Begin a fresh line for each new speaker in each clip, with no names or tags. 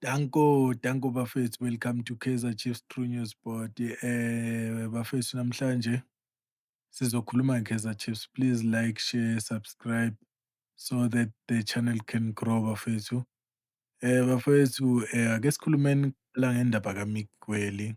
Danko, danko bafethu, welcome to Kaizer Chiefs True News Board. Eh bafethu namhlanje sizokhuluma ngeKaizer Chiefs. Please like, share, subscribe so that the channel can grow bafethu. Eh bafethu, eh ake sikhulumeni la ngendaba kaMick Kweli.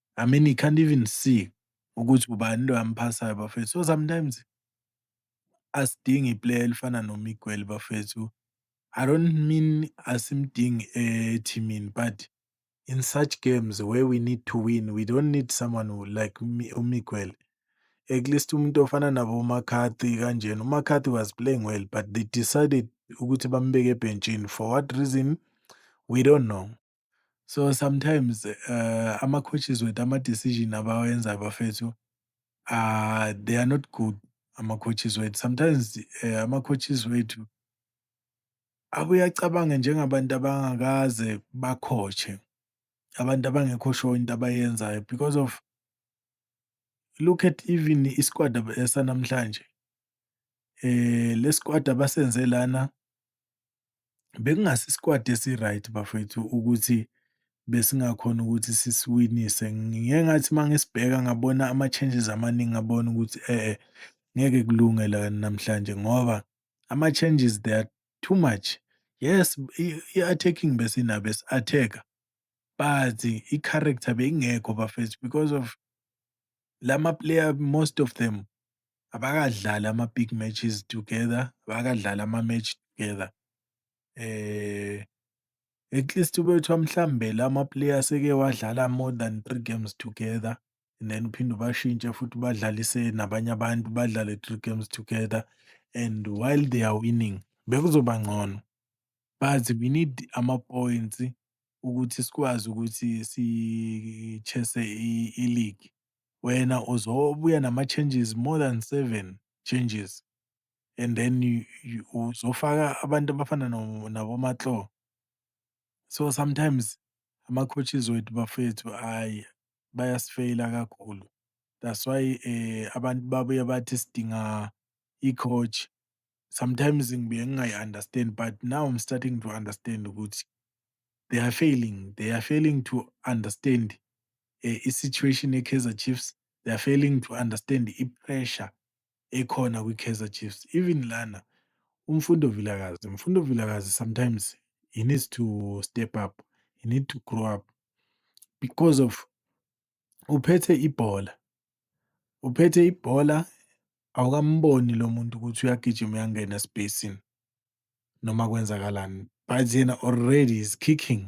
I mean he can't even see ukuthi ubani lo amphasayo bafethu. So sometimes asidingi iplayer elifana noMiguel bafethu. I don't mean asimdingi ethimini eh, but in such games where we need to win, we don't need someone who like uMiguel. At least umuntu ofana nabo uMcCarthy kanjena. UMcCarthy was playing well but they decided ukuthi bambeke ebhentshini for what reason we don't know. So sometimes uh, ama coaches wethu ama decision abawenzayo bafethu uh, they are not good ama coaches wethu. Sometimes uh, ama coaches wethu abuye acabange njengabantu abangakaze bakhoche abantu abangekho sure into abayenzayo because of look at even isquad sanamhlanje eh le squad abasenze lana bekungasi squad esi-right bafethu ukuthi besingakhona ukuthi sisiwinise. Ngike ngathi uma ngisibheka ngabona ama-changes amaningi ngabona ukuthi e-e ngeke kulunge la namhlanje ngoba ama-changes they are too much. Yes, i-attacking besinabo besi-attack-a but i-character beyingekho bafethu because of la ma-player most of them abakadlali ama-big matches together, abakadlali ama-match together. At least kube kuthiwa mhlawumbe la ma-player aseke wadlala more than three games together and then uphinde ubashintshe futhi ubadlalise nabanye abantu, badlale three games together and while they are winning bekuzoba ngcono. But we need ama-points ukuthi sikwazi ukuthi si-chase iligi. wena uzobuya nama-changes more than seven changes and then you, you, uzofaka abantu abafana no- nabomatlo so sometimes ama-coaches wethu bafethu hhayi bayasifeyila kakhulu that's why um abantu babuye bathi sidinga i-coach sometimes ngibuye ngingayi-understand but now i'm starting to understand ukuthi they are failing they are failing to understand eh, i-situation ye-Kaizer Chiefs they are failing to understand i-pressure ekhona kwi-Kaizer Chiefs even lana umfundo Vilakazi umfundo Vilakazi sometimes he needs to step up he need to grow up because of uphethe ibhola uphethe ibhola awukamboni lo muntu ukuthi uyagijima uyangena esipacini noma kwenzakalani but yena already is kicking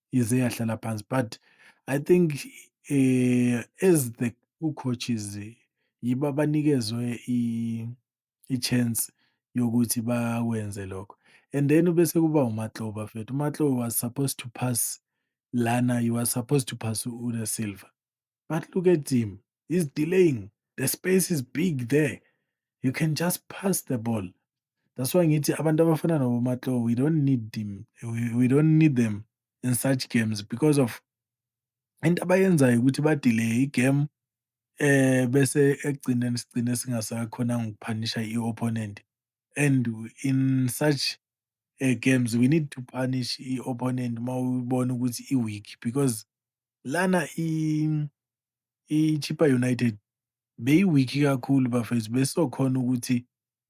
ize yahlala phansi but I think eh as the u-coaches yibo abanikezwe i-chance yokuthi bakwenze lokho and then bese kuba uMahlobo bafethu. UMahlobo was supposed to pass lana, he was supposed to pass uDa Silva. but look at him he's delaying the space is big there you can just pass the ball that's why ngithi abantu abafana nobomatlo we don't need them we, we don't need them in such games because of into abayenzayo ukuthi badelaye igame eh bese ekugcineni sigcine singasakhonanga ukuphanisha i-opponent and in such uh, games we need to punish i-opponent uma ubona ukuthi i-weak because lana iChippa United beyiwiki kakhulu bafethu besokhona ukuthi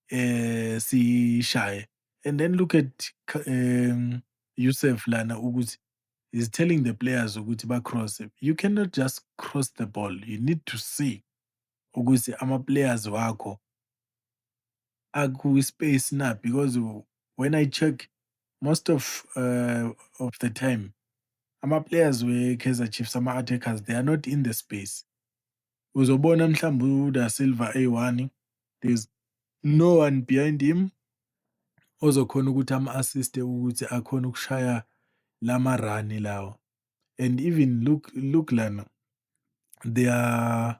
eh sishaye and then look at um Yusuf lana ukuthi is telling the players ukuthi ba cross you cannot just cross the ball you need to see ukuthi ama players wakho akwi space na because when I check most of uh, of the time ama players we Kaizer Chiefs ama attackers they are not in the space uzobona mhlawumbe u Da Silva A1 there's no one behind him ozokhona ukuthi am assist ukuthi akhona ukushaya lama run lawo and even look look lana they are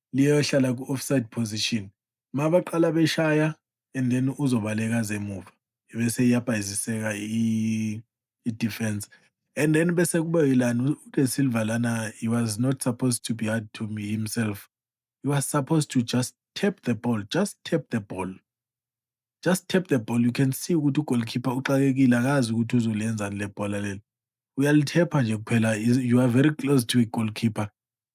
liyohlala ku-offside position mabaqala beshaya and then uzobaleka zemuva bese iyabhayiziseka i-defense and then bese kube yilana uDe Silva lana he was not supposed to be hard to me himself he was supposed to just tap the ball just tap the ball just tap the ball you can see ukuthi ugoalkeeper uxakekile akazi ukuthi uzolenzani le bhola leli uyalithepha nje kuphela you are very close to a goalkeeper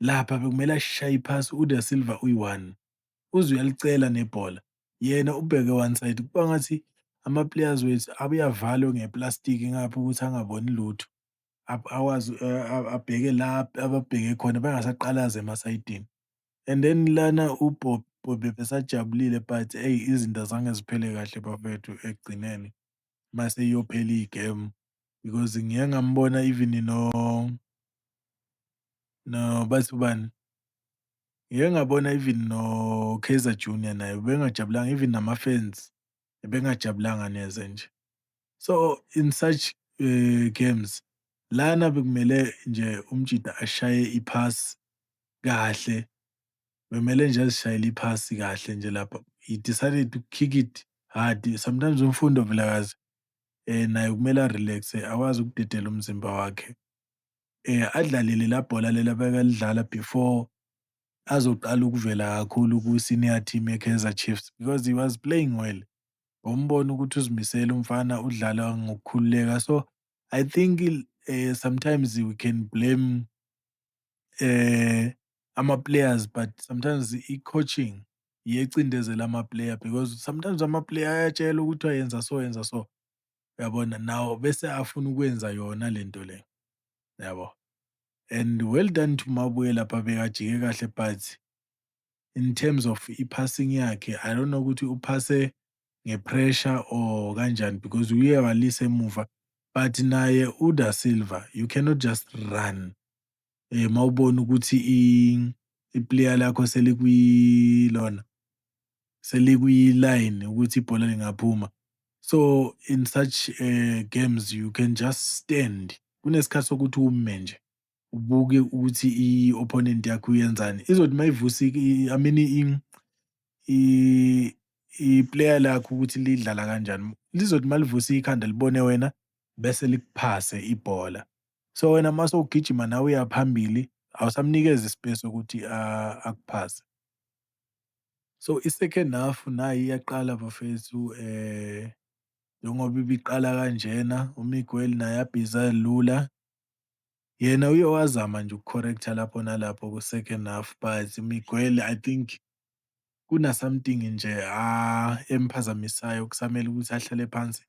lapha bekumele ashaye iphasi uDa Silva uyi-one uze uyalicela nebhola yena ubheke one side kuba ngathi ama-players wethu abuyavalwe ngeplastiki ngapha ukuthi angaboni lutho akwazi abheke la ababheke khona bangasaqalazi emasayidini and then lana uBob Bob besajabulile but eyi izinto azange ziphele kahle bafethu ekugcineni. mase iyophela igemu because ngiye ngambona even no no bathi ubani, ngiye ngabona even noKaizer Junior naye ubengajabulanga even nama-fans ebengajabulanga neze nje. So in such games lana bekumele nje umjita ashaye iphasi kahle Bemele nje azishayele iphasi kahle nje lapha. He decided to kick it hard. Sometimes uMfundo Vilakazi eh naye kumele arelax akwazi ukudedela umzimba wakhe. Eh adlalele la bhola lela bekalidlala before azoqala ukuvela kakhulu ku senior team yeKaizer Chiefs because he was playing well. Ngombona ukuthi uzimisele umfana udlala ngokukhululeka. So I think eh sometimes we can blame eh ama-players but sometimes i-coaching iye icindezela ama-player because sometimes ama-player ayatshelwa ukuthi ayenza so yenza so, uyabona? Nawo bese afuna ukwenza yona le nto le, yabo? And well done to Mabuye lapha bekajike kahle but in terms of i-passing yakhe I don't know ukuthi uphase nge-pressure or kanjani because uye walisa emuva but naye uDa Silva you cannot just run um mawubona ukuthi i-player lakho selikwilona selikwilayini ukuthi ibhola lingaphuma so in such uh, games you can just stand kunesikhathi sokuthi ume nje ubuke ukuthi i-opponent yakho uyenzani izothi uma ivusa i mean i-player lakho ukuthi lidlala kanjani lizothi uma livusa ikhanda libone wena bese likuphase ibhola so wena mase ugijima nawe uya phambili awusamnikeza ispace sokuthi akuphase so i-second half nayo iyaqala bafethu eh njengoba ibiqala kanjena uMiguel naye abhiza lula yena uye wazama nje ukucorrecta lapho nalapho ku-second half but Miguel I think kuna-something nje ah, emphazamisayo kusamele ukuthi ahlale phansi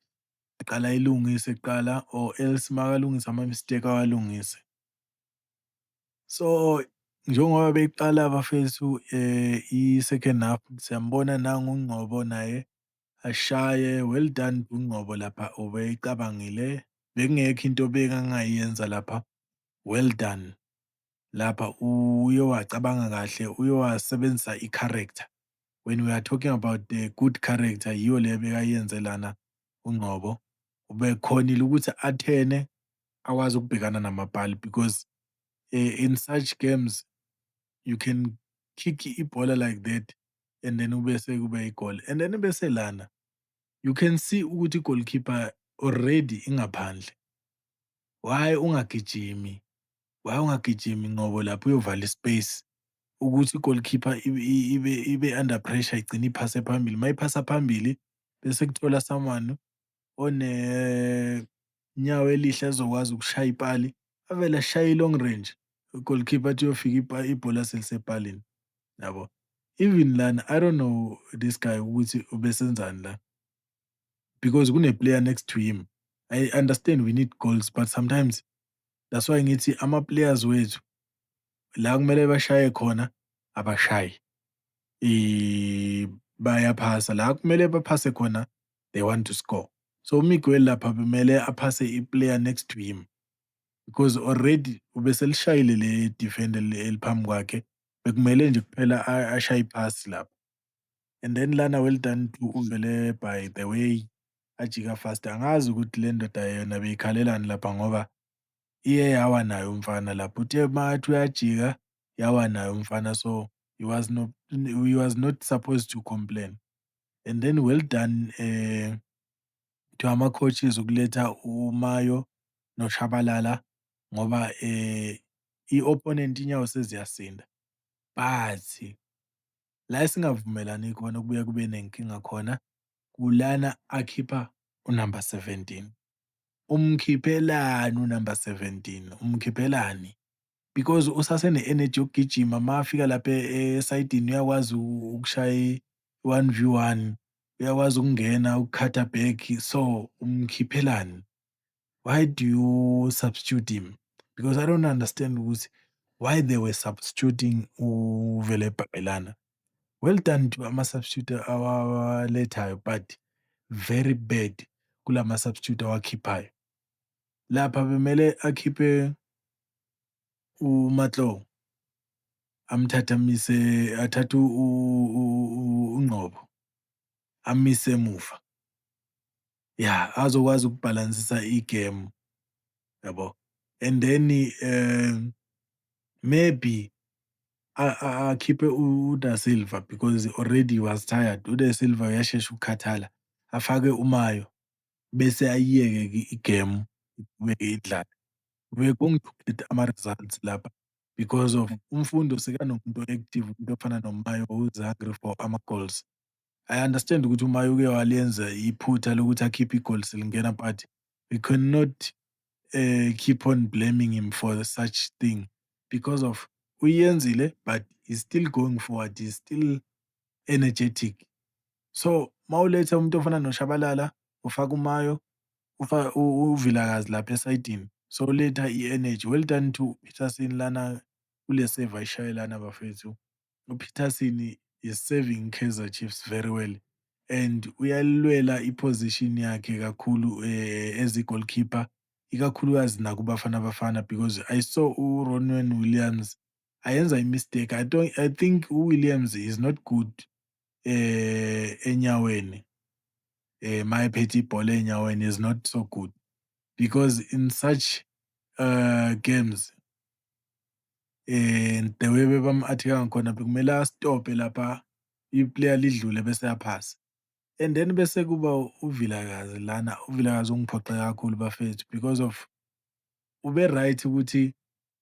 aqala ayilungise kuqala or else makalungisa ama-mistake awalungise. So, njengoba beyiqala abafethu i-second half siyambona nangu uNgcobo naye ashaye well done uNgcobo lapha ubeyicabangile bekungekho into ebekangayenza lapha well done. lapha uye wacabanga kahle uye wasebenzisa i-character when we are talking about the good character yiyo le bekayenze lana ungqobo ubekhonile ukuthi athene akwazi ukubhekana namabhali because uh, in such games you can kick ibhola like that and then ube sekube igol and then bese lana you can see ukuthi igolkeeper already ingaphandle why ungagijimi why ungagijimi ngobo lapho uyovala ispace ukuthi i-goalkeeper ibe ibe under pressure igcine iphase phambili uma iphasa phambili bese kuthola someone onenyawo elihle ezokwazi ukushaya ipali avele ashaye i-long range i-goalkeeper athi uyofika ibhola selisepalini yabo even lana i don't know this guy ukuthi ubesenzani la because kune-player next to him i understand we need goals but sometimes that's why ngithi ama-players wethu la kumele bashaye khona abashayi bayaphasa la kumele baphase khona they want to score so umiguel lapha kumele aphase i-player next to him because already ubeselishayile le defender eliphambi kwakhe bekumele nje kuphela ashaye iphasi lapho and then lana well done to uvele by the way ajika fast angazi ukuthi le ndoda yona beyikhalelani lapha ngoba iye yawa naye umfana lapho uthe mathi uyajika yawa naye umfana so he was not, he was not supposed to complain and then well done eh to ama-coaches ukuletha umayo noshabalala ngoba eh i-opponent inyawo seziyasinda but La esingavumelani khona kubuye kube nenkinga khona kulana akhipha unumber 17. Umkhiphelani unumber 17? Umkhiphelani? Because usase ne-energy yokugijima uma afika lapha esayidini uyakwazi ukushaya one v one uyakwazi ukungena ukukhatha back so umkhiphelani why do you substitute him because i don't understand ukuthi why they were substituting uvele bhabhelana well done to ama-substitute awalethayo but very bad kula ma-substitute awakhiphayo lapha bemele akhiphe umatlow amthathe amise athathe ungqobo amise emuva Yeah, azokwazi ukubhalansisa igemu yabo and then um maybe akhiphe uDa Silva because already was tired. UDa Silva uyashesha ukukhathala, afake uMayo bese ayiyeke-ke igemu iqhubeke idlale. We're going to get ama-results lapha because of umfundi osekanomntu o-active, umuntu ofana noMayo who's hungry for ama-goals. I understand ukuthi uma uke walenza iphutha lokuthi akhiphe igoli selingena but we cannot uh, keep on blaming him for such thing because of uyenzile but he's still going forward he's still energetic so mawuletha umuntu ofana noshabalala ufaka umayo uvilakazi lapha esayidini so uletha i-energy well done to peterson lana kule save ayishayelana bafethu uPeterson is serving Kaizer Chiefs very well and uyalwela iposition yakhe kakhulu eh, as i-goalkeeper ikakhulukazi nakubafana bafana because I saw uRonwen Williams ayenza imistake I, don't, I think uWilliams is not good eh enyaweni eh mayephethe ibhola enyaweni is not so good because in such uh games and the way bebamu-atheka ngakhona bekumele astobhe lapha iplayer lidlule bese yaphasa and then bese kuba uvilakazi lana uvilakazi ungiphoxe kakhulu bafethu because of ube-right ukuthi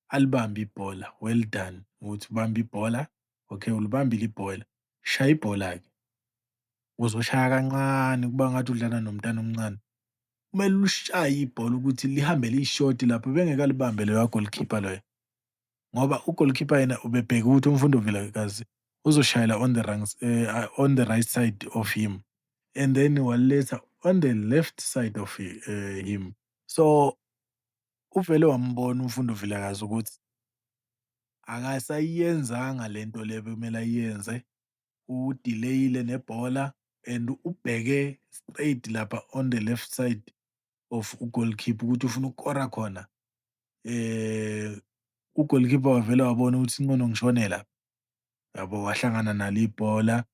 alibambe ibhola well done ukuthi ubambe ibhola okay ulibambile ibhola shaya ibhola-ke uzoshaya kancane kuba ngathi udlala nomntana omncane kumele ulishaye ibhola ukuthi lihambe liyishoti lapho bengekalibambe loyo goalkeeper loyo ngoba ugoalkeeper yena ubebheke ukuthi umfundo vilakazi uzoshayela on the wrong, uh, on the right side of him and then waletha on the left side of uh, him so uvele wambona umfundo vilakazi ukuthi akasayiyenzanga lento le bekumele ayenze udileyile nebhola and ubheke straight lapha on the left side of ugoalkeeper ukuthi ufuna ukukora khona eh ugoalkeeper wavele wabona ukuthi inqono ngishonela yabo wahlangana nalo ibhola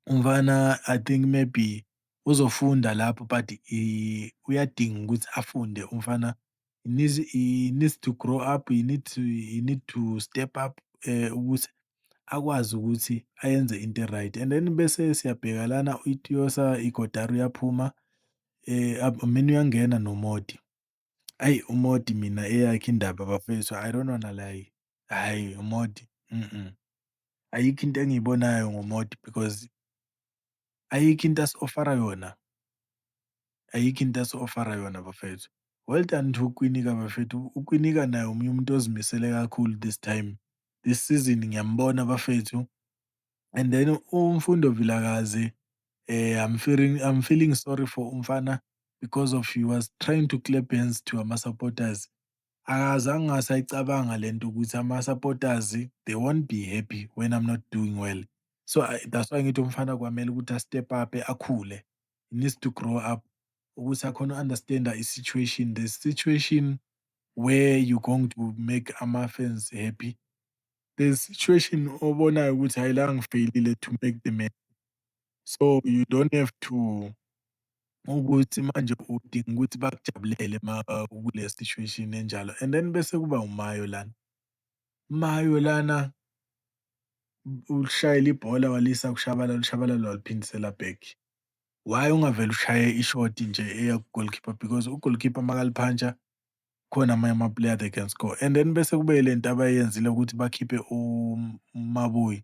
umfana i think maybe uzofunda lapho but uyadinga ukuthi afunde umfana he needs, he needs to grow up he need to, he need to step up eh ukuthi akwazi ukuthi ayenze into right and then bese siyabheka lana uItiosa iGodaro uyaphuma eh mina uyangena noModi ayi uModi mina eyakhe indaba bafethu I don't wanna lie hayi uModi mhm ayikho into engiyibonayo ngoModi because Ayikho into asi-ofara yona, ayikho into asi-ofara yona bafethu. Well done to uKwinika bafethu, uKwinika naye omunye umuntu ozimisele kakhulu this time, this season ngiyambona bafethu. And then uMfundo Vilakazi I'm feeling, I'm feeling sorry for umfana because of he was trying to clap hands to ama-supporters akazange asayicabanga le nto ukuthi ama-supporters they won't be happy when I'm not doing well. So that's why ngithi umfana kwamele ukuthi a-step up akhule. He needs to grow up ukuthi akhona u-understand-a i-situation. The situation where you going to make ama-fans happy. The situation obonayo ukuthi hhayi la ngifeyilile to make the man. So, you don't have to ukuthi manje udinga ukuthi bakujabulele uma ukule situation enjalo and then bese kuba umayo lana. Umayo lana ulishayela ibhola walisa kushabalala, ushabalala waliphindisela back. Why ungavele ushaye i-shot nje eya ku-goalkeeper because u-goalkeeper uma kaliphantsha khona amanye ama-player they can score and then bese kube le nto abayenzile ukuthi bakhiphe uMabuyi.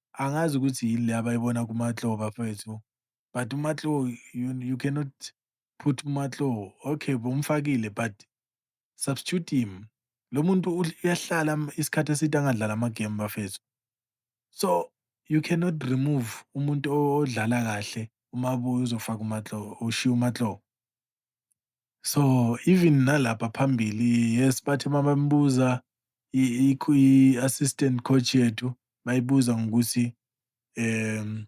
angazi ukuthi yini le abayibona kuMatloho bafwethu but uMatloho you, you cannot put uMatloho okay bomfakile but substitute him lo muntu uyahlala isikhathi eside angadlala amagemu bafethu so you cannot remove umuntu odlala kahle uma buye uzofaka uMatloho ushiya uMatloho. so even nalapha phambili yes bathi uma bambuza i-assistant coach yethu bayibuza ngokuthi um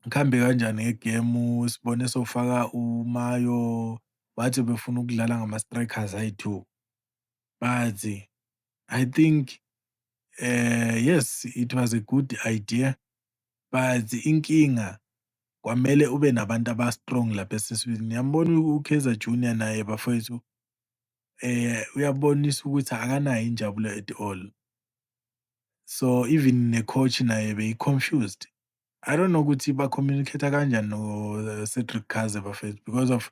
kuhambe kanjani ngegemu sibone sofaka umayo bathi befuna ukudlala ngama-strikers ayi-two but i think uh, yes it was a good idea but inkinga kwamele ube nabantu aba-strong lapha esiswini. Niyambona uKaizer Junior naye bafowethu eh uyabonisa ukuthi akanayo injabulo at all. So even ne-coach naye beyi-confused. I don't know ukuthi ba-communicate-a kanjani no-Cedric Kaze bafethu because of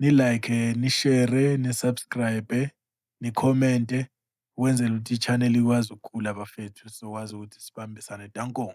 ni-like-e, nishere, ni-subscribe-e, nikhomente ukwenzela ukuthi i-channel ikwazi ukukhula bafethu sizokwazi ukuthi sibambisane. Danko.